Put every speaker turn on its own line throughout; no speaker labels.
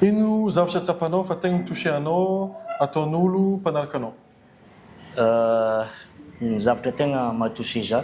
Ino zavatra tsapanao fa tegna mi-toucher anao ataon'olo mpanaraka anao?
Ny zavatra tegna maha-toucher zah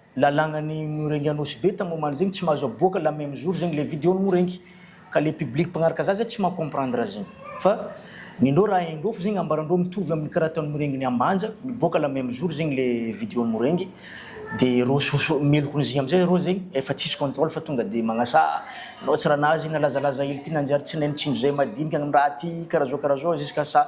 lalagna ny no regny anosibe tagny omaly zegny tsy mahazo aboaka la meme jour zegny le video ny moa regny ka le public mpagnaraka za zay tsy maha comprendre azy zegny fa nindreo raha haindreo fa zegny ambarandreo mitovy aminy karaha ataony moa regny ny ambanja miboaka la meme jour zegny le video ny moa regny de reo soso meloky ny zay amizay reo zegny efa tsisy controle fa tonga de magnasaha nao tsy raha nahazo i nalazalaza hely ty nanjary tsy naino tsindry zay madinika ny raha ty karaha zao karaha zao jusqu'à sa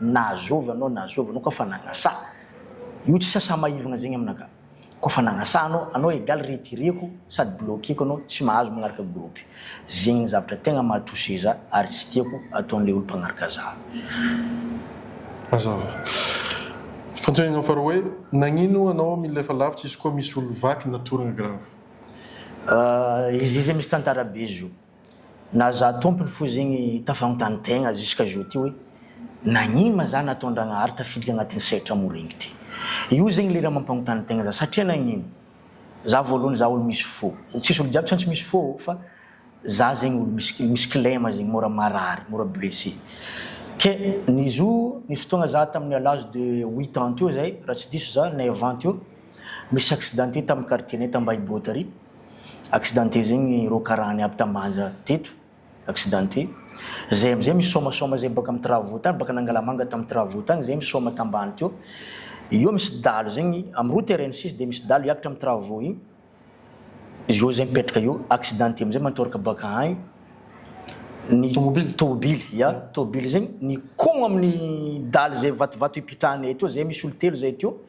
Na zovy anao na zovy anao ka fa nagnasa io tsy sasa maivagna zegny amina ka ko fa nagnasa anao anao egal retireko sady bloqueko anao tsy mahazo magnaraka groupe zegny ny zavatra tegna maha touche za ary tsy tiako ataon'le olo mpagnaraka za. Mazava.
Fantohinana faharoa hoe nagnino anao mila efa lavitra izy koa misy olo vaky na tourne grave. Ahh izy izay misy tantara be
zo. Na za tompony fo zegny tafanontany tegna jusqu'à jour ty hoe nagnino ma za nataon-dragnahary tafiditra agnatin'ny sehatra morengy ty? Io zegny le raha mampanontany tegna za satria nagnino? Za voalohany za olo misy fo, tsisy olo jiaby tsy misy fo ô fa za zegny olo misy misy kilema zegny mora marary, mora blessé. Ke nizo nisy fotoagna za tamin'ny à l'âge de huit ans teo zay raha tsy diso za, neuf ans teo, misy accidenté tamin'ny quartier-nay ta Ambahiboa tary, accidenté zegny rô karaha ny aby tambanja teto accidenté zay amizay misomasoama zay boaka am travaux tany boaka nangalamanga tam travaux tany zay misoama tambany teo eo misy dalo zegny am route rn six de misy dalo hiakatra am travaux igny izy eo zay mipetraka eo accidenté amizay matoraka boaka agny ny tobily ya tobily zegny nikogna aminy dalo zay vatovato ipitrahanay teo zay misy olo telo zay teo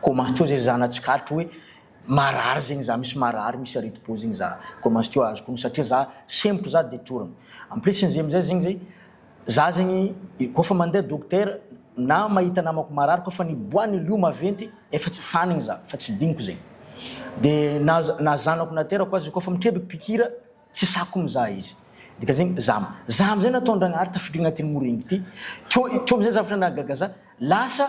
Commence teo zay za na tsikaritra hoe marary zegny za misy marary misy areti-po zegny za commence teo azoko ognona satria za sempotro za de torogno en plus n'izy amizay zegny zay za zegny koa fa mandeha dokotera na mahita namako marary koa fa ny bois ny lio maventy efa tsy fanigny za fa tsy diniko zegny de na na zanako naterako aza koa fa mitrebiky pikira tsy sako mizaha izy dika zegny za za amizay nataondragnahary tafiditra agnatin'ny morengy ty teo teo amizay zavatra nahagaga za lasa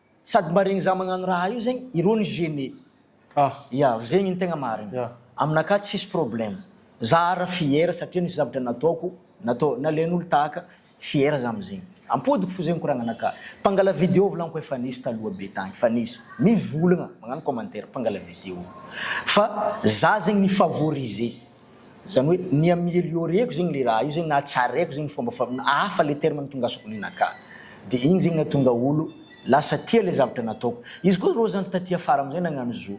Sady mba regny za magnano raha io zegny ireo ny gene ah ya zegny ny tegna marigny ya aminakahy tsisy problème za ara fier satria nisy zavatra nataoko natao nalain'olo tahaka fier za amzegny ampodiko fo zegny koragnanakahy mpangala video volaniko efa nisy taloha be tagny fa nisy mivolagna magnano commentaire mpangala video fa za zegny ni favoriser Zany hoe ny ameliorer-ko zegny le raha io zegny na tsaraiko zegny fomba fa hafa le terme nitongasako ny naka de igny zegny natonga olo lasa tia le zavatra nataoko izy ko reo zany taty afara amizay nagnano zo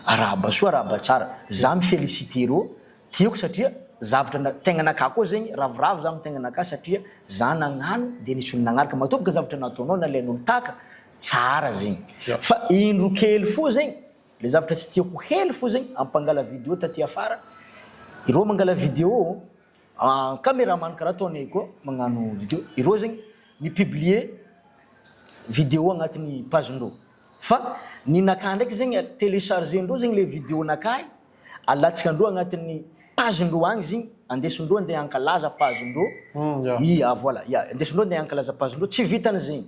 arahaba soa arahaba tsara za mi feliciter reo tiako satria zavatra na tegna naka koa zegny ravoravo za am tegna naka satria za nagnano de nisy olo nagnaraka matoboka zavatra nataonao nalainolo taka tsara zegny fa indro kely fo zegny Le zavatra tsy tiako heno fozagny am mpangala video taty afara ireo mangala video an cameraman karaha ataonay koa magnano video ireo zegny mi publier video agnatiny page ndreo fa ny nakah ndraiky zegny a telecharge ndreo zegny le video nakah alatsaka ndreo agnatiny page ndreo agny zegny andeso ndreo andeha ankalaza page ndreo i a voila ya andeso ndreo andeha ankalaza page ndreo tsy vitany zegny.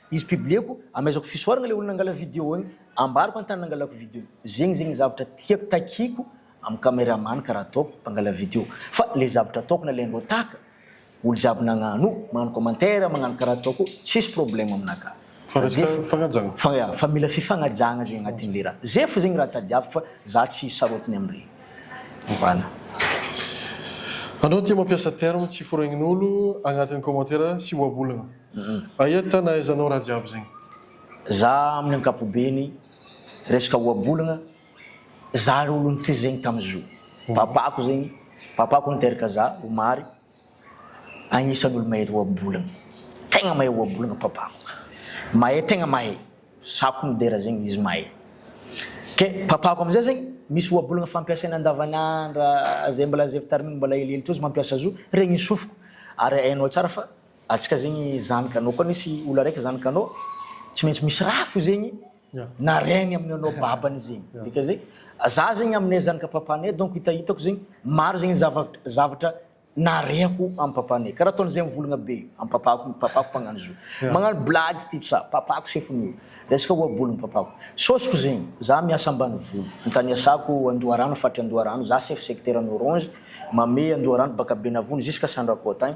Izy publieko amaizako fisoarana le olona nangala video ny ambarako an tany nangalako video ny zegny zegny zavatra tiako takiako am cameraman karaha ataoko mpangala video fa le zavatra ataoko nalaindreo taka olo jiaby nagnano magnano commentaire magnano karaha ataoko io tsisy problème aminaka fa ze fa ya fa mila fifagnajagna zegny agnatin le raha ze fo zegny raha tadiaviko fa za tsy sarotiny am regny voilà.
Anao tia mampiasa terme tsy foregnin'olo agnatin'ny commentaire sy ohabolana. Aia tana aiza nao raha jiaby zegny. Za
amin'ny ankapobeny resaka ohabolagna za ry olo nitry zegny tam zo papako zegny papako niteraka za omary agnisany olo mahery ohabolagna tegna mahay ohabolagna papako mahay tegna mahay sako midera zegny izy mahay ke papako amizay zegny misy ohabolagna fampiasaina andavanandra zay mbola zay fitariminy mbola helihely teo izy mampiasa zo regny sofiko ary hainao tsara fa Atsika zegny zany kanô koa nisy olo araiky zany kanô tsy maintsy misy raha fo zegny narainy aminy anao babany zegny dika zegny za zegny aminay zanaka papanay donc hitahitako zegny maro zegny zavatra nareko am papanay kara ataony zay mivolagna be am papako io papako mpagnano izy io magnano blagy ty tsa papako sefony io resaka ohabolony papako sôsiko zegny za miasa ambanivolo antaniasako andoharano faritry andoharano za chef secteur any orange mamehy andoharano baka benavony jusque sandrakoa tagny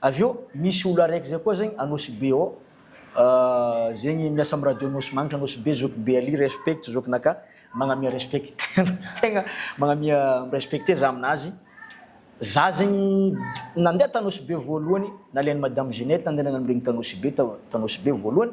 Avy eo misy olo araiky zay koa zegny Anosibe ao zegny miasa am radio Nosy magnitra Anosibe zoky be alia respect zokinaka magnamia respect tegna magnamia respecte za aminazy za zegny nandeha ta Anosibe voalohany nalainy madame Ginette nandeha nagnano regny ta Anosibe ta Anosibe voalohany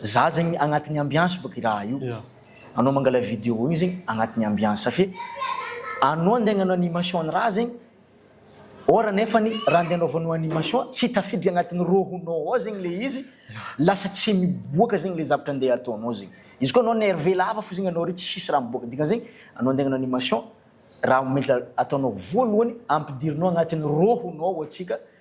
Za zegny agnatiny ambiance bôka i raha io anao mangala video igny zegny agnatiny ambiance fe anao andeha agnano animation ny raha zegny or nefany raha andeha anaovanao animation tsy tafiditra agnatiny rôhonao ao zegny le izy lasa tsy miboaka zegny le zavatra andeha ataonao zegny izy koa anao nerve lava fo zegny anao re tsisy raha miboaka dika zegny anao andeha agnano animation raha mila ataonao voalohany ampidirinao agnatiny rôhonao ao atsika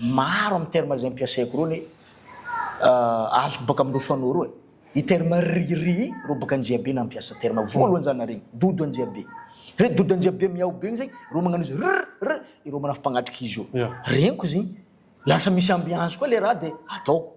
Maro amin'ny termes izay ampiasaiko irony azoko baka amin'ireo fanao ireo e! I terme ririi i Robaka Anjiabe nampiasa terme voalohany za nare igny, Dodo Anjiabe. Re Dodo Anjiabe miao be igny zay, ireo magnano izy rrrr, ireo manafy mpagnatrika izy io. Regniko izy igny, lasa misy ambiance koa le raha dia ataoko.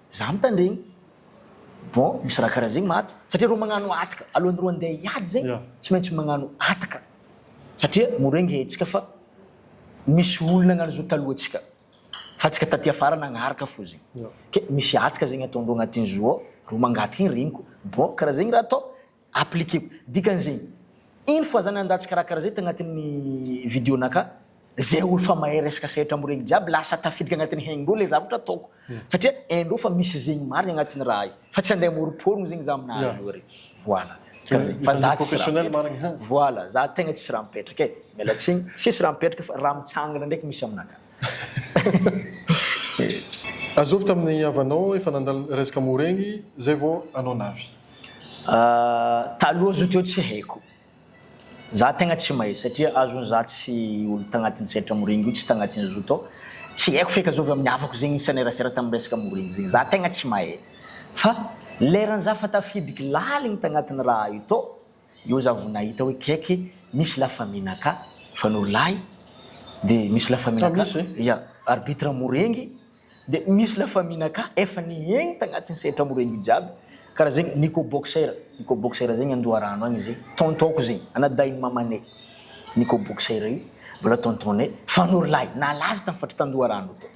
Za mitandregny. Bon misy raha karaha zegny maty satria reo magnano ataka alohan'ny reo andeha hiady zegny tsy maintsy magnano ataka satria mora engehintsika fa misy olo nagnano zao talohantsika fa antsika taty afara nagnaraka fo zegny ke misy ataka zegny ataondreo agnatin'izy roa ao reo mangataka igny regniko bon karaha zegny raha atao Appliquer-ko. Dikany zay. Ino fa zany andaha tsy karakara zay tagnatin'ny video naka. Zay olo fa mahay resaka sehatra am regny jiaby lasa tafiditra agnatin'ny hainindreo le zavatra ataoko. Satria haindreo fa misy zegny marigny agnatin'ny raha io. Fa tsy andeha amoroporogno zegny za amina azy io re. Voilà. Dikany zay. Fa za tsisy raha mipetraka.
Voilà. Za tegna tsisy
raha mipetraka e. Mialatsigny. Tsisy raha mipetraka fa raha mitsangana ndraiky misy aminakahy.
Azovy tamin'ny havanao efa nandalo resaka mou regny zay vao anao navy.
Taloha zao teo tsy haiko. Za tegna tsy mahay satria azony za tsy olo tagnatin'ny sehatra mou regny io tsy tagnatin'ny zo tao. Tsy haiko feky azovy amin'ny havako zegny nisanerasera tamin'ny resaka mou regny zegny. Za tegna tsy mahay. Fa leran'ny za fa tafidiko laligny tagnatin'ny raha io tao. Eo za vo nahita hoe keke misy la famille naka fa no lahy de misy la famille naka ya arbitre morengy de misy la famille naka efa nihegny tagnatin'ny sehatra morengy io jiaby karaha zegny Nico boxer Nico boxer zegny Andoharano agny izy tonton ko zegny anadahin'i mamanay Nico boxer io mbola tonton nay fa no lahy nalaza tam faritry tandoharano tao.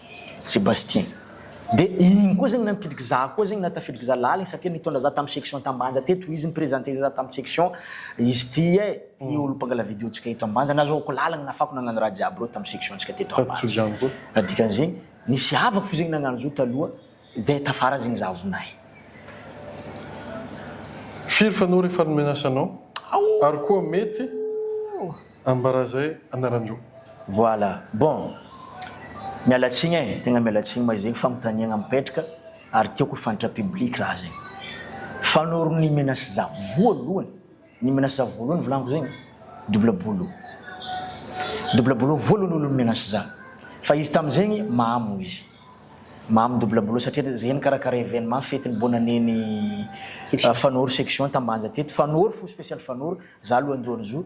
Sébastien. De igny koa zegny nampidiko za koa zegny na tafidiko za laligny satria nitondra za tam section tam Banja teto izy ni-presenter za tam section izy ty eh ty olo mpangala video tsika eto Ambanja nazahoako laligny nafako nagnano raha jiaby reo tam section tsika teto Ambanja ka dikany zegny nisy havako fo zegny nagnano zo taloha zay tafara zegny za vonay.
Firy fa anao refa nomena asa anao? Ary koa mety. Ambara zay anaran-droa. Voilà.
Bon! Miala tsiny eh! Tegna miala tsiny ma zegny fagnontaniagna mipetraka ary tiako ho fantatra public raha zegny. Fanoro ny menace za voalohany, ny menace za voalohany volagniko zegny double boulot. Double boulot voalohany olo ni menace za. Fa izy tam zegny mamo izy. Mamo double boulot satria te zay nikarakara evenement fety ny bonne année ny Fanoro section Tambanja teto. Fanoro fo special Fanoro, za lohandohan'izo.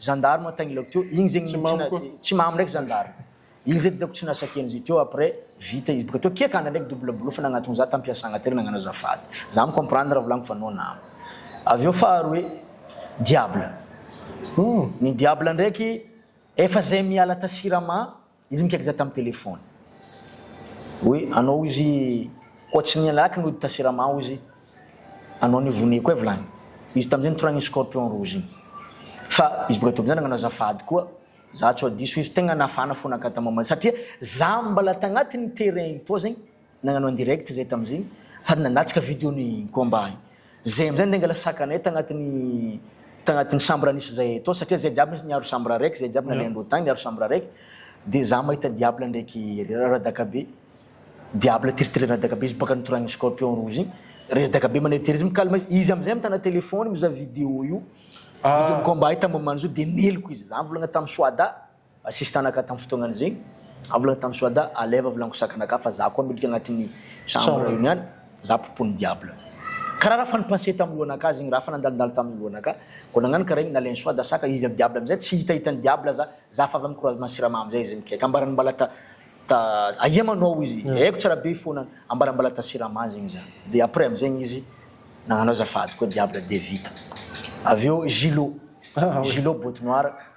Zandary moa tagny laoko teo, igny zegny tsy mamy koa. Tsy mamy ndraiky zandary. Igny zegny hitako tsy nasakiany izy teo après vita izy boka teo. Kiaka andra ndraiky double boulot fa nagnatogno za tam piasagna teo nagnano azafady. Za mi comprendre raha volaniko fa non nama. Avy eo faharoe, diable. Ny diable ndraiky efa zay miala ta siramamy Izy nikaika za tam telephone oe anao izy koa tsy niala aky nody ta sirama ao izy anao ni vonia koa vilany izy tamizay nitoragna iny scorpion rouge iny fa izy boka teo amizay nagnano azafady koa za tsoa diso izy tegna nafana fona ka tam satria za mbala tagnatiny terrain toa zegny Nagnano en direct zay tamzigny sady nanatrika video ny combat igny. Zay amzay nde nangala sakanay tagnatiny tagnatiny chambre nisy zay tô satria zay jiaby nisy niaro chambre raiky zay jiaby nalehandreo tagny niaro chambre raiky de za mahita diable ndraiky radaka be diable tiritiriry radaka be izy baka nitoragny scorpion rouge igny redaka be maneritery izy mikalma izy izy amzay mitana telephone mizaha video io video ny combat io tamomany zao de meloky izy za mivolagna tamy soada Sisin-tanaka tamin'ny fotoanan' izay. Aho volana tamin'i Soada, Aleva volana kosa Kanaka fa za koa miditra agnatin'ny chambre io niany, za popon'ny diable. Karaha raha fa ni-passer tamin'ny lohanakah zegny, raha fa nandalondalo tamin'ny lohanakah, vao nagnano karaha igny nalain'i Soada saka izy, ry diable amizay tsy hitahitan'i ny diable za, za fa avy amin'ny croisement siramamy zay izy mikaiky, ambarany mbala ta ta aia ma no ao izy, haiko tsara be ifonany, ambarany mbala ta sirama zegny za, de après amizegny izy nagnano azafady koa diable de vita. Avy eo Gilot, Gilot botte noire.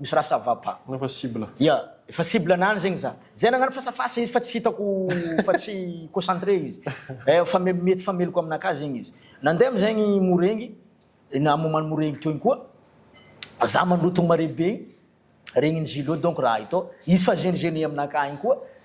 Misy raha ça va pas. Efa cible. Ya,
efa cible
anany zegny za. Zay nagnano face à face izy fa tsy hitako fa tsy concentré izy. Eh fa me- mety fa meloka aminakahy zegny izy. Nandeha amizegny Morengy, na moment Morengy teo igny koa, za mandroa togno mare be igny, regniny Zilo donc raha ito, izy fa gene gene aminakahy igny koa,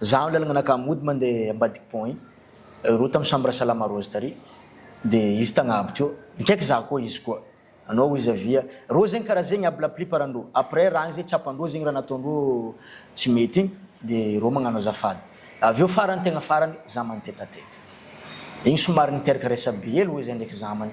Zaho lalagna naka mody mande ambadiky pont igny, roa tam chambre à salama rozy tary de izy tagnabo teo, mikaiky zaho koa izy koa, anao hoy izy avia, reo zegny kara zegny aby la plupart andreo, après raha agny zay tsapandreo zegny raha nataondreo tsy mety igny de reo magnano azafady, avy eo farany tegna farany za mani-tête à tête igny somary niteraka resabe hely hoy zay ndraiky zamany,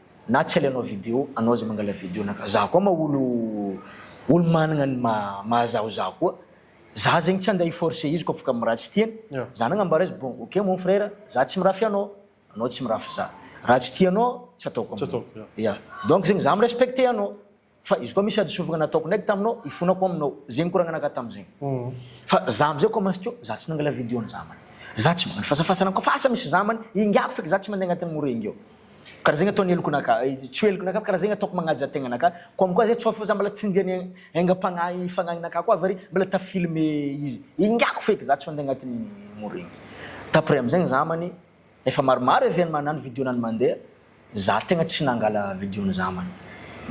Na tsy alainao video anao aza mangala video anaka za koa ma olo olo managna ny maha mahazaho za koa za zegny tsy ande hi forcer izy koa afaka miraha tsy tiany za nagnambara izy bon ok mon frère za tsy mirafy anao anao tsy mirafy za raha tsy tianao tsy ataoko aminao ya donc zegny za mi respecter anao. Fa izy koa misy hadisoavagna nataoko ndraiky taminao hifonako aminao zay nikoragnanaka tamizay fa za amizay koa mazotoa za tsy nangala video ny zamany za tsy mba nifasafasana koa fa asa misy zamany ingahy feky za tsy mande agnatin'ny mora ingeo kara zegny ataony heloko naka tsy ho heloko naka kara zegny ataoko magnaja tegna naka comme quoi zay tsoafy fa za mbola tsy nde ny aingam-pagnahy fagnahy naka koa avy ary mbola ta filme izy ingahy feky za tsy mande agnatin'ny mora igny d'après amizay ny zamany Efa maromaro even manano video nany mandeha za tegna tsy nangala video ny zamany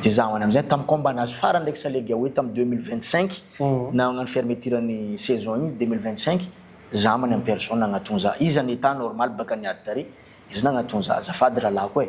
de za hoany amizay tam combat nazy farany ndreky salegy aoe tam deux mille vingt cinq nagnano fermeture ny saison igny deux mille vingt cinq zamany en personne nagnatogno za izy an état normal baka niady tary izy nagnatogno za azafady rahalahiko e.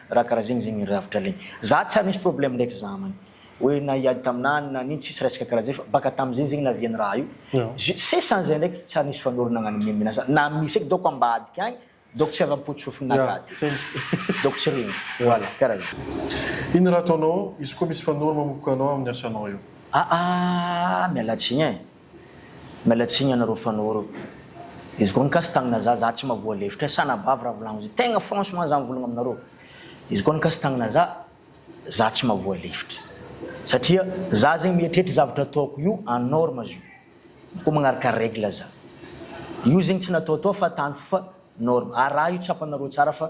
Raha karaha zegny zegny rafitra legny za tsy ary nisy problème ndraiky za man hoe na hiady taminah na nino tsisy resaka karaha zay fa baka tamizay zegny naviany raha io jus sesany zay ndraiky tsy ary nisy fanorona nagnano meme na za na misy eky donc ambadika agny donc tsy avy am potsofiny na kady donc tsy regny voilà karaha zay. Ino raha ataonao
izy koa misy fanoro mamokoka anao aminy asanao eo? Aa miala tsiny eh. Miala
tsiny anareo fanoro. Izy koa nikasy tagnina za za tsy mavoa lefitra e sa anabavy ra volagno zay tegna franchement za mivolagna aminareo izy koa nikasy tagnina za za tsy mavoa lefitra satria za zegny mieritreritra zavatra ataoko io en norme zio koa magnaraka règle za io zegny tsy nataotao fa tany fo fa norme ary raha io tsapanareo tsara fa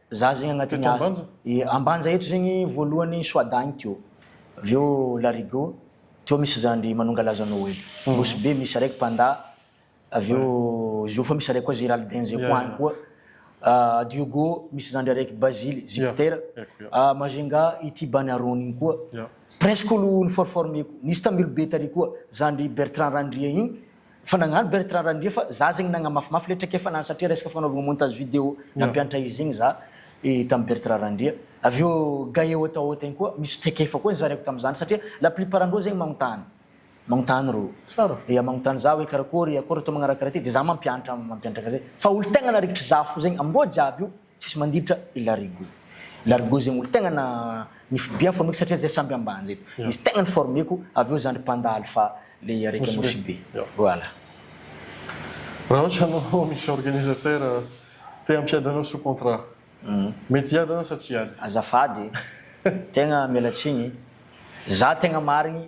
Za zegny agnatin'ny Teto Ambanja? Ye, Ambanja eto zegny voalohany Soada agny teo. Avy eo La Rigo, teo misy zandry Manongalaza Noely. Nosy Be misy araiky Panda, avy eo Ziofa misy araiky koa Geraldin zay koa agny koa. Ah, Diogo misy zandry araiky Bazily, Jupiter. Haiko, ya. Ah, Majunga ity Bany Arony igny koa. Ya. Presque olo niforformer-ko. Nisy Tamilobe tary koa, zandry Bertrand Randria igny, Fa nagnano Bertrand Randria fa za zegny nagnamafimafy le traikefa nany satria resaka fagnanovagna montage vidéo nampianatra izy zegny za tam Bertrand Randria. Avy eo Gaé haute à haute igny koa misy traikefa koa nizaraiko tamzany satria la plupart andreo zegny magnontany magnontany rô ya magnontany za hoe karakory akôry atao magnaraka raha ty de za mampianatra mampianatra karaha zegny fa olo tegna narikitry za fo zegny amindreo jiaby io Tsisy manditra i Larigot. Larigot zegny olo tegna na ny fbm formeko satria zay samby ambanja eto. Izy tegna ny formeko avy eo zandry panda alpha le araiky Anosibe. Anosibe. Voilà.
Raha ohatra anao misy organisateur te hampiady anao sous contrat, mety hiady anao sa tsy hiady? Azafady
e! Tegna miala tsiny, za tegna marigny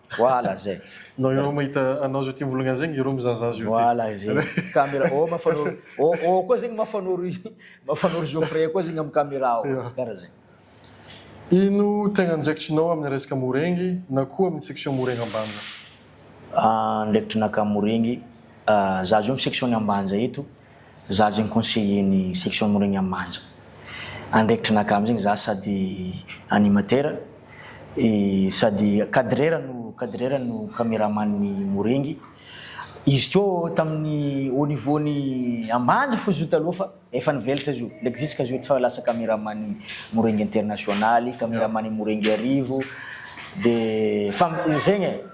Voilà zay. Non io mahita
anao zao ty mivolagna zegny iro mizahazaha zio ty. Voilà zay.
Camera ô mafanoro ô ô koa zegny mafanoro mafanoro Geoffrey koa zegny am camera ô. Kara zegny. Ino
tegna andraikitrinao amin'ny resaka Morengy na koa amin'ny section Morengy Ambanja? Andraikitrinakahy
Morengy, za zao amin'ny section-n'ny Ambanja eto Za zegny conseiller ny section Moregna Manja. Andraikitry naka amzegny za sady animateur et sady cadreur no cadreur no cameraman ny Morengy. Izy teo taminy au niveau ny Ambanja fo izy taloha fa efa nivelatra izy io. L'exisque izy io efa lasa cameraman ny Morengy international, cameraman ny Morengy Arivo de fa zegny e.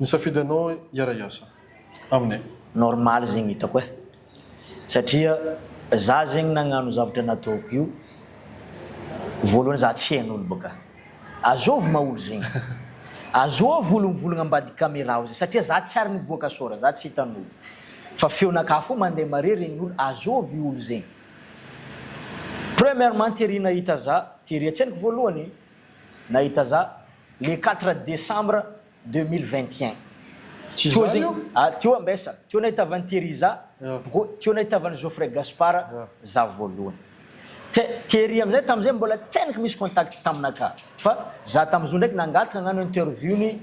Nisafidy anao hiara hiasa aminay. Normal zegny
hitako eh. Satria za zegny nagnano zavatra nataoko io voalohany za tsy hain'olo bôka. Azôvy ma olo zegny. Azôvy olo mivolagna ambadiky camera ao zegny satria za tsy ary niboaka sôra za tsy hitan'olo. Fa feon'aka fô mande mare regn'olo azôvy olo zegny. Premièrement Thierry nahita za, Thierry an-tsainiko voalohany nahita za. Le quatre décembre deux mille vingt et un Tsy Teo zany zegny, io? ah, teo ambessa, teo nahitavan'i Therisa, Ah. go, teo nahitavan'i Geoffrey Gaspard Ah. za voalohany. The- Thierry amizay tamizay mbola tsy hainiko misy contact taminaka fa za tamizao ndraiky nangataka hagnano interview-n'i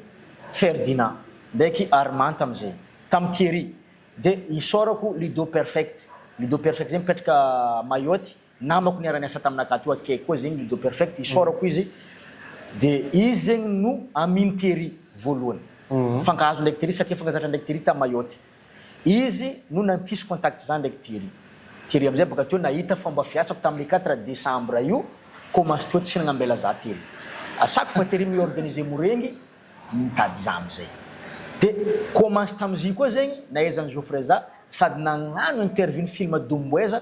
Ferdinand ndraiky Armand tamizay, tam Thierry. De isaorako Ludo Perfect, Ludo Perfect zay mipetraka Mayotte. namako niara niasa tamina gato akaiky koa zegny ludo perfect isaorako izy de izy zegny no amin tery voalohany mifankahazo ndraiky tery satria mifankazatra ndraiky tery ta mayotte izy no nampisy contact za ndraiky tery tery amizay baka teo nahita fomba fiasako tamle quatre decembre io ko maso teo tsy nagnambela za tery asako fa tery mi organiser morengy mitady za amizay de ko maso tamizy koa zegny naezany joffre za sady nagnano interview ny film domboeza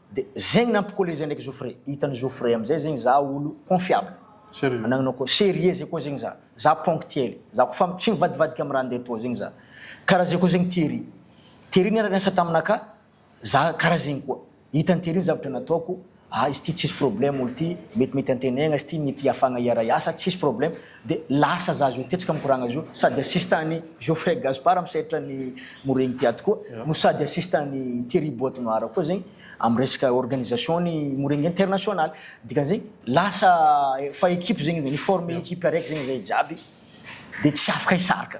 De zegny nampicoller zay ndraiky Joffre, hitan'i Joffre amizay zegny za olo confiable, anagnanao koa serieux zay koa zegny za, za ponctuel, za koa fa tsy mivadivadika am raha ndeha atao zegny za, karaha zay koa zegny Thierry, Thierry niara niasa taminaka, za karaha zegny koa, hitan'i Thierry ny zavatra nataoko, ah izy ty tsisy problème olo ty, metimety antenaigna izy ty, mety hiafagna hiara hiasa, tsisy problème, De lasa za zao tetsika mikoragna zao sady assistant an'i Geoffrey Gaspard misaitra an'i Moreigny Tiato koa no sady assistant an'i Thierry Boite Noir koa zegny am resaka organisation an'i Moreigny international dikan'izegny lasa efa équipe zegny edy ni former équipe araiky zegny zay jiaby de tsy afaka hisaraka.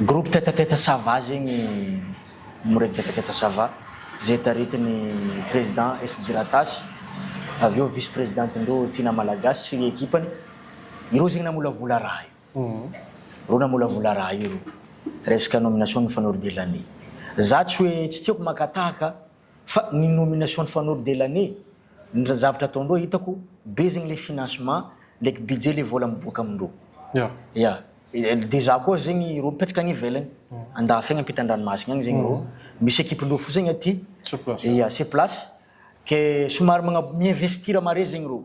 Groupe teta teta ça va zegny miregny teta teta ça va zay taritin'ny président SJ Ratasy avy eo vice présidentendreo Tina Malagasy sy ny ekipany ireo zegny namolavola raha io reo namolavola raha io reo resaka nomination ny fanor de l'année za tsy hoe tsy tiako makatahaka Fa ny nomination ny fanoro de l'année ny raha zavatra ataondreo hitako be zegny le financement ndraiky budget le vola miboaka amindreo ya dejà koa zegny ireo mipetraka any ivelany andafy agny ampita andranomasigny agny zegny ireo misy ekipe lofo zegny aty ya sur place ke somary magna mi investir mare zegny ireo.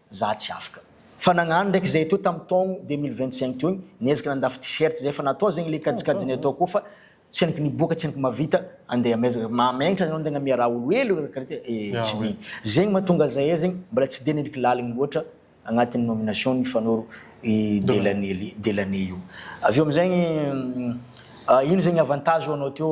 Za tsy afaka. Fa nagnano ndraiky zay teo tam taogno deux mille vingt cinq teo igny, niezaka nandafy t-shirt zay fa natao zegny le kajikajiny atao ko fa tsy henoko niboaka tsy henoko mavita andeha amezaka mametra anao antegna miaraha olo hely olo karaha ty ee tsy mino zegny matonga zahay zegny mbola tsy de niliky laligny loatra agnatiny nomination nifanoro i delany delany io avy eo amizegny ino zegny avantage ho anao teo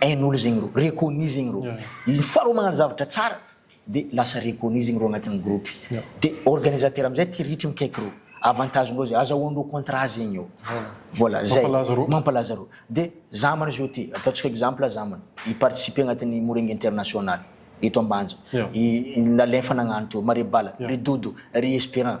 hain'olo zegny rô, reconnu zegny rô, le fois rô magnano zavatra tsara de lasa reconnu zegny rô agnatin'ny groupe, de organisateur amizay ty ritra mikaiky rô, avantage-ndreo zay, azahoandreo contrat zegny ô, voilà zay, mampalaza rô, mampalaza rô, de zamana zao ty, ataontsika exemple zamana hi participer agnatin'ny morengy international eto ambanja, i Lalefa nagnano teo, Marebala, ry Dodo, ry Esperant,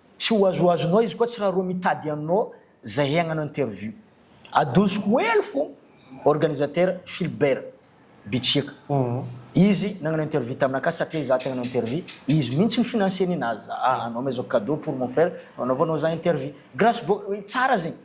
Tsy ho azoazonao izy koa tsy raha rô mitady anao zahay hagnano interview. Adosiko hely fôgna organisateur Philbert Bitsiaka. Izy nagnano interview tamina ka satria za te hagnano interview, izy mintsy ny financer-ny nazy za. Anao mais zao cadeau pour mon frère, anaovanao za interview. Grace Boy, tsara zegny.